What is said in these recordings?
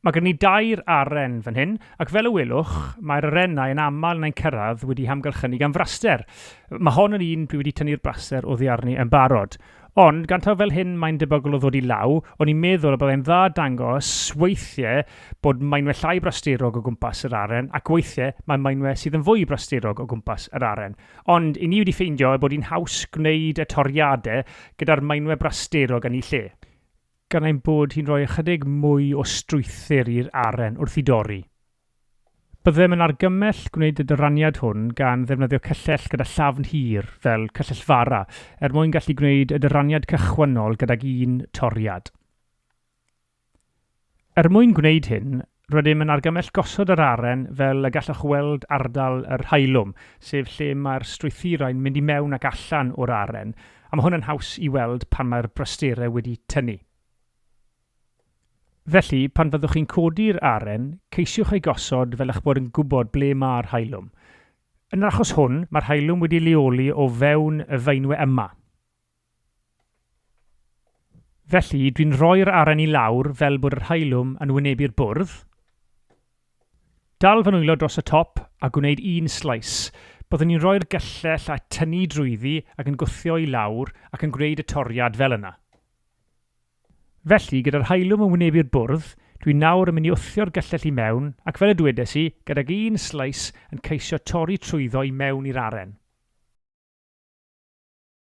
Mae gen i dair aren fan hyn, ac fel y welwch, mae'r arennau yn aml yn ein cyrraedd wedi hamgylchynu gan fraster. Mae hon yn un dwi wedi tynnu'r braster oddi arni yn barod. Ond, gan taw fel hyn mae'n debygol o ddod i law, o'n i'n meddwl y byddai'n dda dangos weithiau bod mainwe llai brasterog o gwmpas yr aren ac weithiau mae mainwe sydd yn fwy brasterog o gwmpas yr aren. Ond, i ni wedi ffeindio ei bod hi'n haws gwneud y toriadau gyda'r mainwe brasterog yn ei lle. Gan ein bod hi'n rhoi ychydig mwy o strwythur i'r aren wrth ei dorri. Byddem yn argymell gwneud y dyraniad hwn gan ddefnyddio cyllell gyda llafn hir, fel cyllell fara, er mwyn gallu gwneud y dyraniad cychwynnol gydag un toriad. Er mwyn gwneud hyn, rydym yn argymell gosod yr aren fel y gallwch weld ardal yr haelwm, sef lle mae'r strwythurau'n mynd i mewn ac allan o'r aren, a mae hwn yn haws i weld pan mae'r brasterau wedi tynnu. Felly, pan fyddwch chi'n codi'r aren, ceisiwch ei gosod fel eich bod yn gwybod ble mae'r haelwm. Yn yr achos hwn, mae'r haelwm wedi ei leoli o fewn y feinwe yma. Felly, dwi'n rhoi'r aren i lawr fel bod yr haelwm yn wynebu'r bwrdd. Dal fy nwylo dros y top a gwneud un sleis. Byddwn i'n rhoi'r gyllell a tynnu drwyddi ac yn gwthio i lawr ac yn gwneud y toriad fel yna. Felly, gyda'r haelwm yn wynebu'r bwrdd, dwi nawr yn mynd i wthio'r gyllell i mewn ac fel y dwedes i, gydag un sleis yn ceisio torri trwyddo i mewn i'r aren.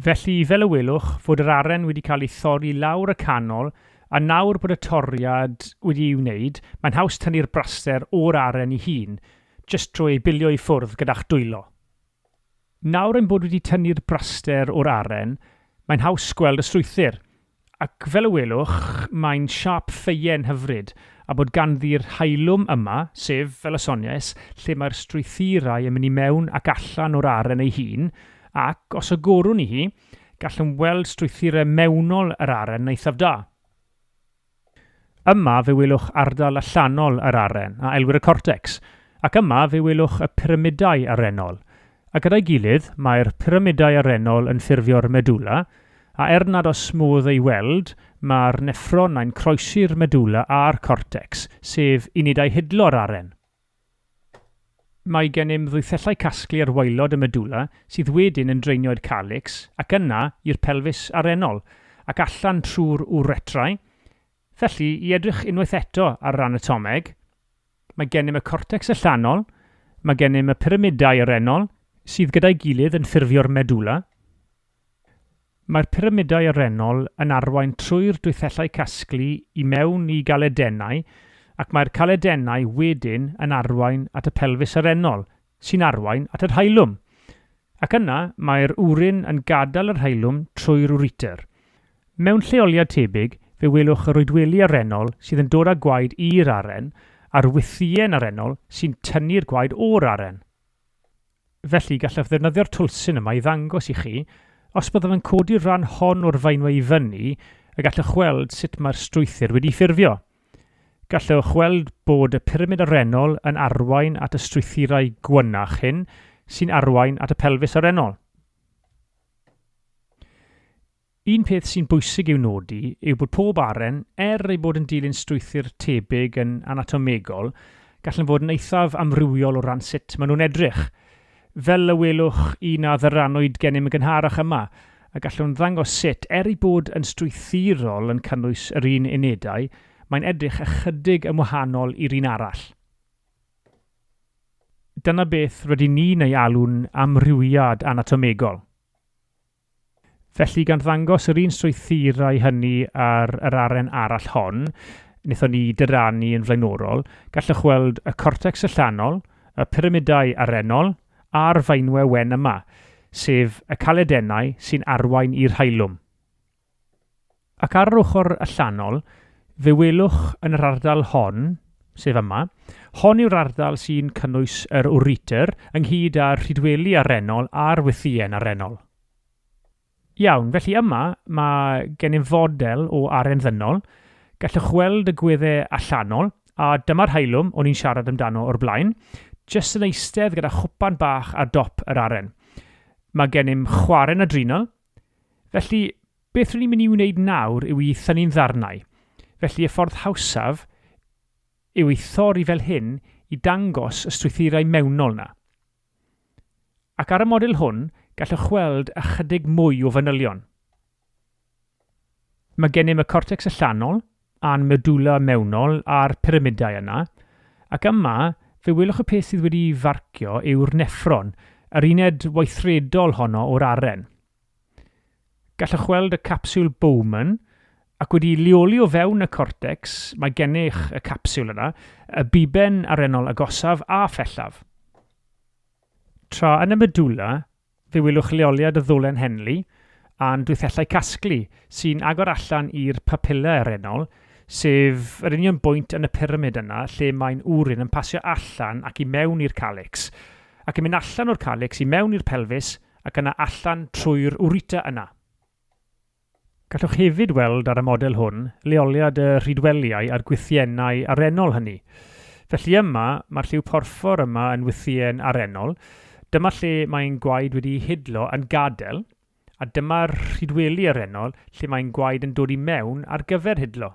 Felly, fel y welwch, fod yr aren wedi cael ei thorri lawr y canol, a nawr bod y toriad wedi ei wneud, mae'n haws tynnu'r braster o'r aren ei hun, jyst trwy ei bilio i ffwrdd gyda'ch dwylo. Nawr ein bod wedi tynnu'r braster o'r aren, mae'n haws gweld y strwythur. Ac fel y welwch, mae'n siâp ffeuen hyfryd, a bod ganddi'r haelwm yma, sef, fel y soniais, lle mae'r strwythurau yn mynd i mewn ac allan o'r aren ei hun, ac, os agorwn i hi, gallwn weld strwythurau mewnol yr aren eithaf da. Yma fe welwch ardal allanol yr aren, a elwir y cortecs, ac yma fe welwch y pyramidau arennol, A gyda'i gilydd, mae'r pyramidau arennol yn ffurfio'r medulla, a er nad oes modd ei weld, mae'r neffronnau'n croesi'r medulla a'r cortecs, sef unedau hidlo'r aren. Mae gennym ddwythellau casglu ar waelod y medulla sydd wedyn yn draenio i'r calics ac yna i'r pelfis arennol ac allan trwy'r uretrau. Felly, i edrych unwaith eto ar yr anatomeg, Mae gennym y cortecs allanol, mae gennym y pyramidau arennol sydd gyda'i gilydd yn ffurfio'r medulla. Mae'r pyramidau arennol yn arwain trwy'r dwythellau casglu i mewn i galedennau ac mae'r caledennau wedyn yn arwain at y pelfis arennol sy'n arwain at y rhaelwm, ac yna mae'r wrin yn gadael y rhaelwm trwy'r ureter. Mewn lleoliad tebyg, fe welwch yr oedweli arennol sydd yn dod â gwaed i'r aren, a'r wythïen arennol sy'n tynnu'r gwaed o'r aren. Felly, gallaf ddefnyddio'r twlsyn yma i ddangos i chi, os byddaf yn codi'r rhan hon o'r faenwe i fyny, y gallwch weld sut mae'r strwythur wedi ffurfio. Gallwch weld bod y pyramid arennol yn arwain at y strwythurau gwynach hyn sy'n arwain at y pelfis arennol. Un peth sy'n bwysig i'w nodi yw bod pob aren, er ei bod yn dilyn strwythur tebyg yn anatomegol, gallan fod yn eithaf amrywiol o ran sut maen nhw'n edrych. Fel y welwch chi na ddyrannwyd gennym yn gynharach yma, y gallwn ddangos sut, er ei bod yn strwythurol yn cynnwys yr un unedau, mae'n edrych ychydig yn wahanol i'r un arall. Dyna beth rydyn ni'n ei alw'n amrywiad anatomegol. Felly, gan ddangos yr un strwythurau hynny ar yr aren arall hon, wnaethon ni dyrannu yn flaenorol, gallwch weld y cortecs allanol, y pyramidau arennol, a'r faenwe wen yma, sef y caledennau sy'n arwain i'r haelwm. Ac ar yr ochr allanol, fe welwch yn yr ardal hon, sef yma, hon yw'r ardal sy'n cynnwys yr Writer, ynghyd â'r Rhydweli Arennol a'r Wythïen Arennol. Iawn, felly yma mae gennym fodel o aren ddynol, gallwch weld y gweddau allanol, a dyma'r haelwm o'n i'n siarad amdano o'r blaen, jyst yn eistedd gyda chwpan bach ar dop yr aren. Mae gennym chwarren adrenal, felly Beth r'yn ni'n mynd i wneud nawr yw i thynnu'n ddarnau, felly y ffordd hawsaf yw ei thorri fel hyn i dangos y strwythurau mewnol 'na. Ac ar y model hwn, gallwch weld ychydig mwy o fanylion. Mae gennym y cortecs allanol, a'n medulla mewnol a'r pyramidau yna, ac yma, fe welwch y peth sydd wedi'i farcio yw'r neffron, yr uned weithredol honno o'r aren. Gallwch weld y capsiwl Bowman, ac wedi'i leoli o fewn y cortecs, mae gennych y capsiwl yna, y buben arennol agosaf a phellaf. Tra yn y medulla, fe welwch leoliad y ddolen Henle a'n dwythellau casglu, sy'n agor allan i'r papilla arennol, sef yr union bwynt yn y pyramid yna lle mae'n urine yn pasio allan ac i mewn i'r calycs, ac yn mynd allan o'r calycs i mewn i'r pelfis, ac yna allan trwy'r ureter yna. Gallwch hefyd weld ar y model hwn leoliad y rhydwelïau a'r gwythiennau arennol hynny. Felly yma, mae'r lliw porffor yma yn wythïen arennol, dyma lle mae ein gwaed wedi'i hidlo yn gadael, a dyma'r rhydweli arennol lle mae ein gwaed yn dod i mewn ar gyfer hidlo.